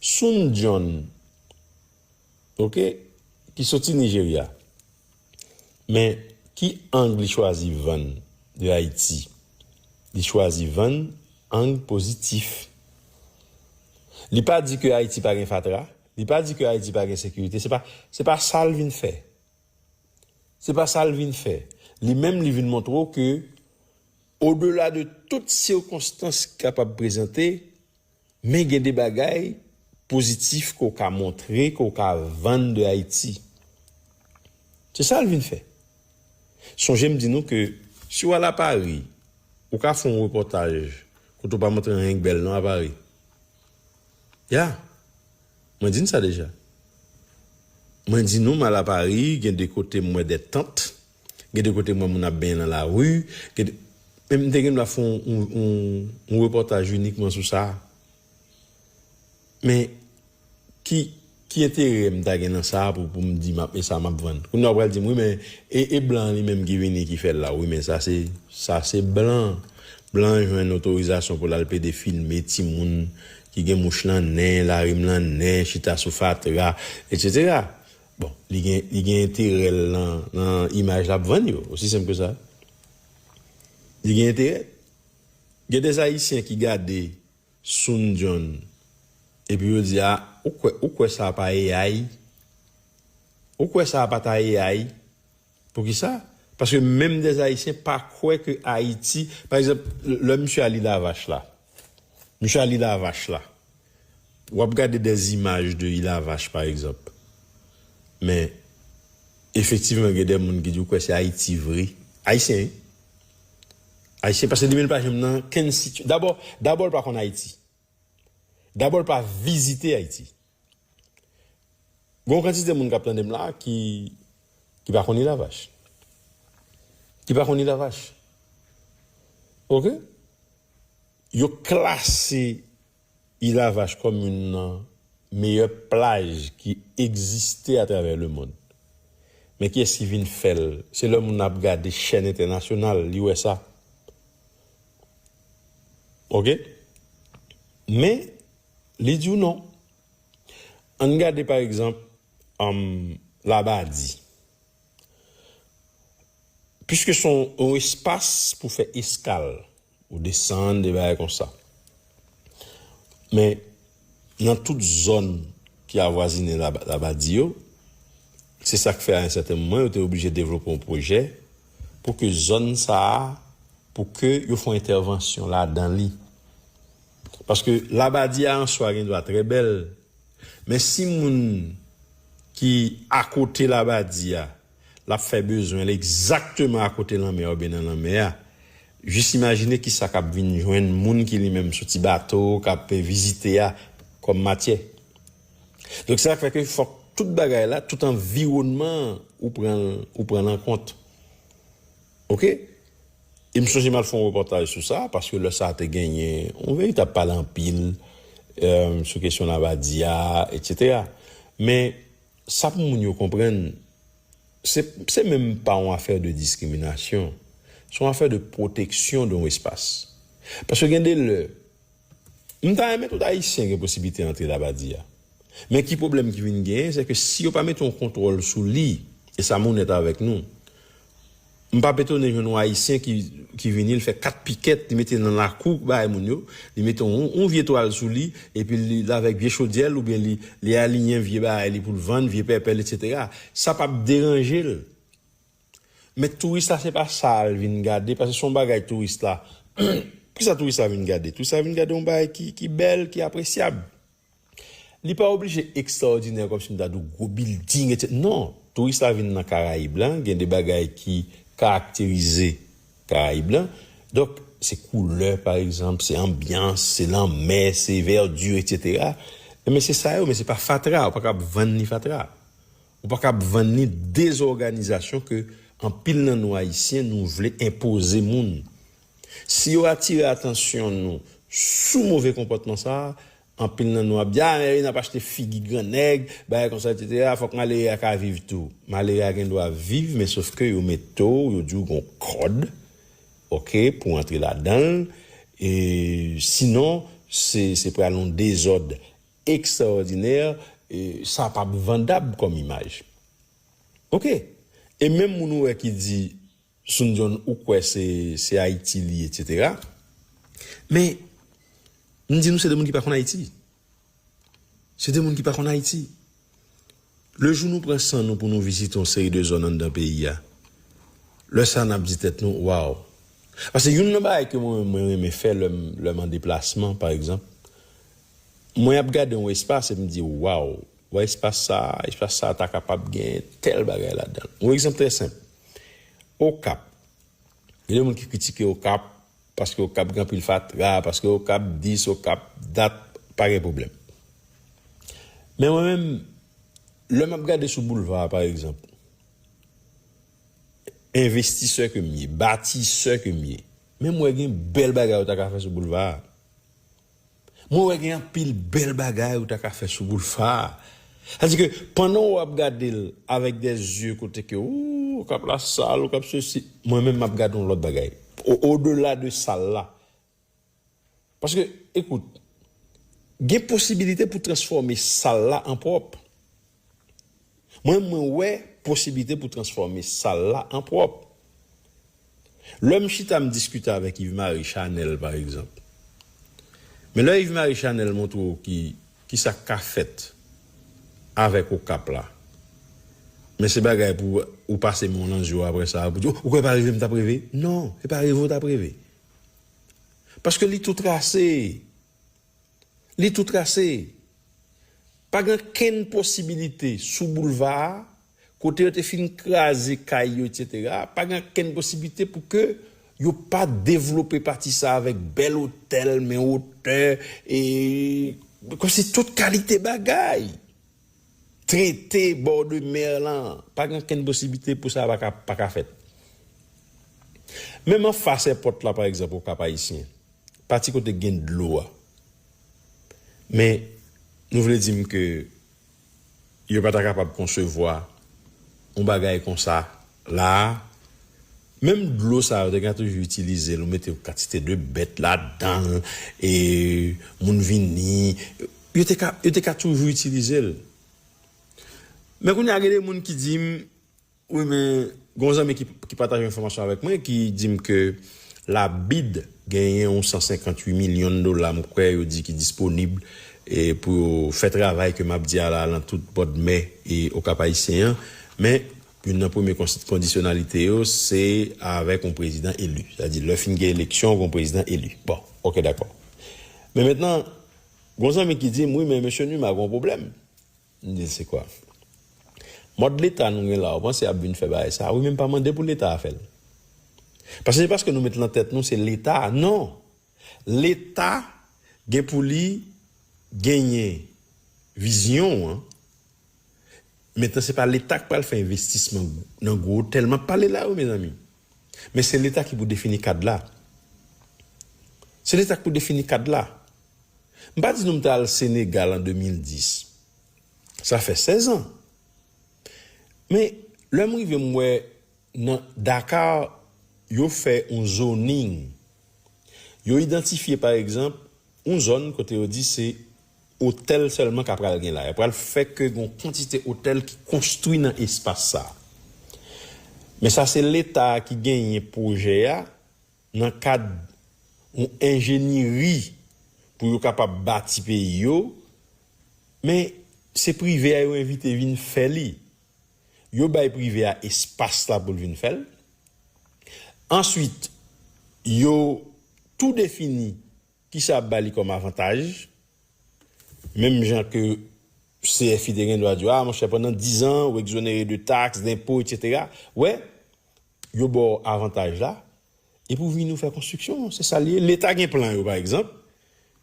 Sun John ok ki soti Nigeria men ki ang li chwazi vann de ayiti li chwazi vann ang pozitif li pa di ke ayiti pa gen fatra li pa di ke ayiti pa gen sekirite se pa se pa sal vin fè se pa sal vin fè li menm li vin montre w ke odela de tout sikonstans ki kapab prezante. Men gen de bagay pozitif ke w ka montre, ke w ka vann de Ayiti. Se sa l vin fè. Sonje m di nou ke si w al a Pari, ou ka fè yon repòtaj kote w pa montre anyen k bèl non a Pari. Ya! Mwen di n sa deja. Mwen di nou m al a Pari, gen de kote m wè de tant. Gen de kote m wè moun ap benyen nan lari, gen de. Men m te gen dwa fè yon repòtaj inikman sou sa. Men, ki enterè m ta gen nan sa pou m di m ap, e sa m ap vann? Kounye a ou pral di m, wi men, e blan an li menm ki vini ki fè l la? Wi men sa se, sa se blan. Blan an jwenn otorizasyon pou l al plede filme timoun ki gen mouch nan nen, larim nan nen, chita sou fatra, etsetera. Bon, li gen li gen enterè l nan nan imaj l ap vann yo, osi senp ke sa. Li gen enterè. Gen des Ayisyen ki gade Soun Dyon epi yo di a, ou kwè ou kwè sa a pa AI? Ou kwè sa a pa ta AI? Poukisa? Paske menm des Ayisyen pa kwè ke Ayiti, pa egzanp, lè misye a li Lavache la, misye a li Lavache la, w ap gade des imaj de Ilavache pa egzanp, men efektivman gen des moun ki di ou kwè se Ayiti vre, Ayisyen wi, Ayisyen, paske li menm li pa janm nan kenn siti, dabò, dabò l pa konn Ayiti, dabò l pa vizite Ayiti. Gon kantite moun kap tandem la ki ki pa konn ilavach ki pa konn ilavach ok yo klase ilavach kòm youn nan meyè plaj ki egziste atravè le mond men kiyès ki vin fèl se lè moun nan ap gade chèn entènasyonal li wè sa ok men Li di w non. An n gade pa egzanp Labadi. Piske se yon espas pou fè eskal, ou desann de bagay konsa. Men, nan tout zòn ki avwazine Labadi yo, se sa k fè a yon sèten moman yo te oblije devlope yon pwojè pou ke zòn sa a, pou ke yo fè yon entèvansyon ladan li. Paske labadi a answa gen dwa trè bèl, men si moun ki akote labadi a l ap fè bezwen l egzakteman akote lanmè oubyen nan lanmè a, jis imajine ki sa k ap vin jwenn moun ki li menm sou ti bato k ap vizite a kòm matyè. Donk se sa k fè ke fòk tout bagay la, tout anviwònman an ou pran l an kont. Ok e m sonje m al fè yon repòtaj sou sa paske lè sa te genyen yon veritab pale anpil sou kesyon Labadi a etsetera men sa pou moun yo konprann se menm pa yon afè de diskriminasyon se yon afè de pwoteksyon de yon espas paske gen de lè M ta renmen tout ayisyen gen posiblite antre Labadi a. Men ki pwoblèm ki vin genyen se ke si yo pa mete yon kontwòl sou li, e sa m onèt avèk nou, m pa p etone jwenn yon ayisyen ki vini l fè 4 pikèt li mete nan lakou bagay moun yo, li mete yon vye twal sou li epi li avèk vye chodyè l oubyen li aliyen vye bagay li pou l vann, vye pèpè l, eksetera. Sa pa p deranje l. Men touris la se pa sa al vin gade paske son bagay touris la kisa touris la vin gade touris la vin gade yon bagay ki bèl ki apresyab li pa oblije ekstraòdinè kòm si m ta di w gwo bilding etc non touris la vin nan karayib la gen de bagay ki karakterize karayib la donk se koulè pa egzanp se anbyans se lanmè se vèdi etc men se sa yo men se pa fatra ou pa kab vann ni fatra. Ou pa kab vann ni dezòganizasyon ke anpil nan nou Ayisyen nou vle enpoze moun. Si yo atire atansyon nou sou move konpòtman sa, anpil nan nou ap di, a men wi n ap achte figi gran nèg, bagay konsa etsetera, fòk malere a ka viv tou. Malere a gen dwa viv men sof ke yo mete w, yo di w gon kòd ok pou antre ladan l e sinon se pral yon dezòd. Extraordinaire sa pap vandab kòm imaj ok e menm moun ou wè ki di Sunjon ou kwè se se ayiti li etc men m di nou se de moun ki pa konn ayiti se de moun ki pa konn ayiti Le jou nou pran san nou pou nou vizite yon seri de zòn anndan peyi a, lè sa a n ap di tèt nou, Waww! Pase youn nan bagay ke mwen menm mwen renmen fè lè m lè m an deplasman, pa egzanp, mwen ap gade yon espas e m di, Waww! Wè espas sa a, espas sa a ta kapab gen tèl bagay ladan l. Yon egzanp trè senp, Okap, gen de moun ki kritike Okap Paske okap gen anpil fatra paske okap dis okap dat pa gen pwoblèm men mwen menm lè map gade sou boulva a pa egzanp envestisè ke m ye batisè ke m ye menm wè gen bèl bagay ou ta ka fè sou boulva a. Mwen wè gen anpil bèl bagay ou ta ka fè sou boulfa a. Sa di ke pandan ou ap gade l avèk de zye kote ke ou ou kap la sal, ou kap sesi, mwen menm map gade yon lòt bagay. O dela de sal la. Paske ekout, gen posibilite pou transfòme sal la an pwòp. Mwen mwen wè posiblite pou transfòme sal la an pwòp. Lè m chita m diskite avèk Yves Marie Chanel pa egzanp. Men lè Yves Marie Chanel montre w ki kisa k ka fèt avèk Okap la. Men se bagay pou ou pase men w lan zye w aprè sa pou di w kwè pa reve m t ap reve. Non, se pa reve w t ap reve. Paske li tou trase. Li tou trase. Pa gen okenn posibilite sou boulva a, kote yo te fin kraze kay yo etc. Pa gen okenn posiblite pou ke yo pa devlope pati sa avèk bèl otèl men otè e kòmsi tout kalite bagay. Trete bord de mer lan. Pa gen okenn posiblite pou sa pa ka fèt. Menm anfas èpòt la pa egzanp Okap Ayisyen, Pati kote k gen dlo a. Men, nou vle di m ke yo pa ta kapab konsevwa yon bagay konsa la a? Menm dlo sa a yo te ka toujou itilize l ou mete yon kantite de bèt ladan l e moun vini, yo te ka, yo te ka toujou itilize l. Men kounye a gen de moun ki di m Wi men gon zanmi ki pataje yon enfòmasyon avèk mwen ki dim ke la bid genyen yon 158 milyon dola m kwè yo di ki disponib pou yo fè travay ke map di a la lan tout bòdmè okap ayisyen an men youn nan premye kondisyonalite yo se avèk yon prezidan eli sa di lè fin gen eleksyon gon prezidan eli bon ok dakò men mentnan gon zanmi ki dim wi men mesye numa gon pwoblèm. M di l se kwa? Mòd leta nou gen la ou panse y ap vin fè bagay sa a? Wi men m pa mande pou leta a fè l. Paske se paske nou met lan tèt nou se leta a non! Leta gen pou li genyen vizyon an mentnan se pa leta k pral fè envestisman nan gwo otèl m ap pale la wi mezanmi men se leta ki pou defini kad la se leta k pou defini kad la. M pa di nou m t al Senegal an 2010. Sa fè sèzan. Men, lè m rive m wè nan Dakar yo fè yon zoning. Yo idantifye pa egzanp yon zòn kote yo di se otèl sèlman k apral gen la. Y apral fè ke gen yon kantite otèl ki konstwi nan espas sa. Men sa se leta a ki genyen pwojè a. Nan kad yon enjenyeri pou yo kapab bati peyi yo, men se prive a yo envite vin fè li. Yo bay prive a espas la pou l vin fè l. Answit, yo tou defini ki sa y ap ba li kòm avantaj. Menm jan ke CFI te gen dwa di yo, a monchè pandan dizan ou ekzonere de taks, denpo, etsetera. Wè, Yo ba w avantaj la, epi w vini w fè konstriksyon an. Se sa l ye. Leta gen plan yo, pa egzanp.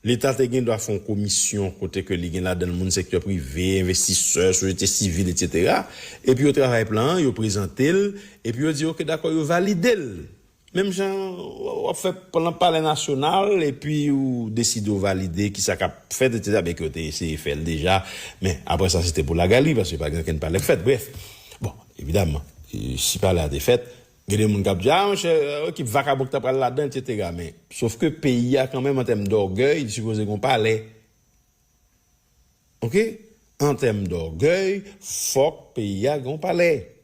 Leta te gen dwa fè yon komisyon kote ke li gen ladan l moun sektè prive, envestisè, sosyete sivil, etsetera. Epi yo travay plan an, yo prezante l, epi yo di, ok, dakò, yo valide l. Menm jan w ap fè plan palè nasyonal, epi ou deside ou valide ki sa k ap fèt, etsetera, byenke yo te eseye fè l deja, men apre sa se te pou lagali, paske pa gen okenn palè k fèt. Brèf, bon, Evidaman, si pale a te fèt, gen de moun k ap di, a monchè, ki vakabon ki ta pral ladan, etsetera. Men, sof ke peyi a kanmenm an tèm dògèy, li sipoze gen yon palè. Ok? An tèm dògèy, fòk peyi a gen yon palè.